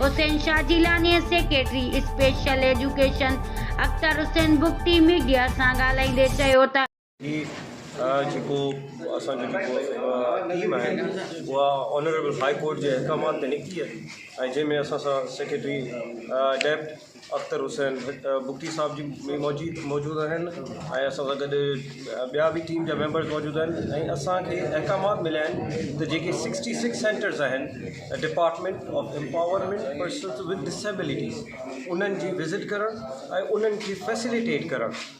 حسين Shah Jilani secretary special education Akhtar Hussain Bugti media سان ڳالهائيندي چيو ته. هي جيڪو اسان جو جيڪو ٽيم آهي اها آنريبل هاء ڪورٽ جي احڪامات تي نڪتي آهي ۽ جنهن ۾ اسان سان سيڪريٽري ڊيپٽ اختر حسين بگٽي صاحب جي به موجود موجود آهن ۽ اسان سان گڏ ٻيا به ٽيم جا ميمبرز موجود آهن ۽ اسانکي احڪامات مليا آهن ته جيڪي سڪسٽي سڪس سينٽرز آهن department of empowerment persons with disabilities انهن جي وزٽ ڪرڻ ۽ انهن کي فيسلٽيٽ ڪرڻ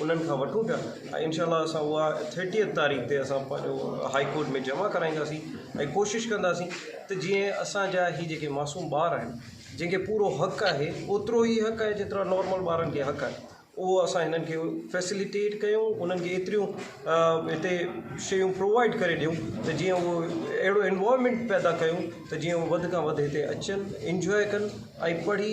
انهن کان وٺون پيا ۽ انشاء الله اسان اها ٿرٽيئٿ تاريخ تي اسان پنهنجو هائي ڪورٽ ۾ جمع ڪرائينداسين ۽ ڪوشش ڪنداسين ته جيئن اسانجا هي جيڪي معصوم ٻار آهن جن کي پورو حق آهي اوترو ئي حق آهي جيترا نارمل ٻارن کي حق آهي اهو اسان هنن کي فيسليٽيٽ ڪيون انهن کي ايتريون هتي شيون پرووائيڊ ڪري ڏيون ته جيئن هو اهڙو انوائرمينٽ پيدا ڪيون ته جيئن هو وڌ کان وڌ هتي اچن انجوائي ڪن ۽ پڙهي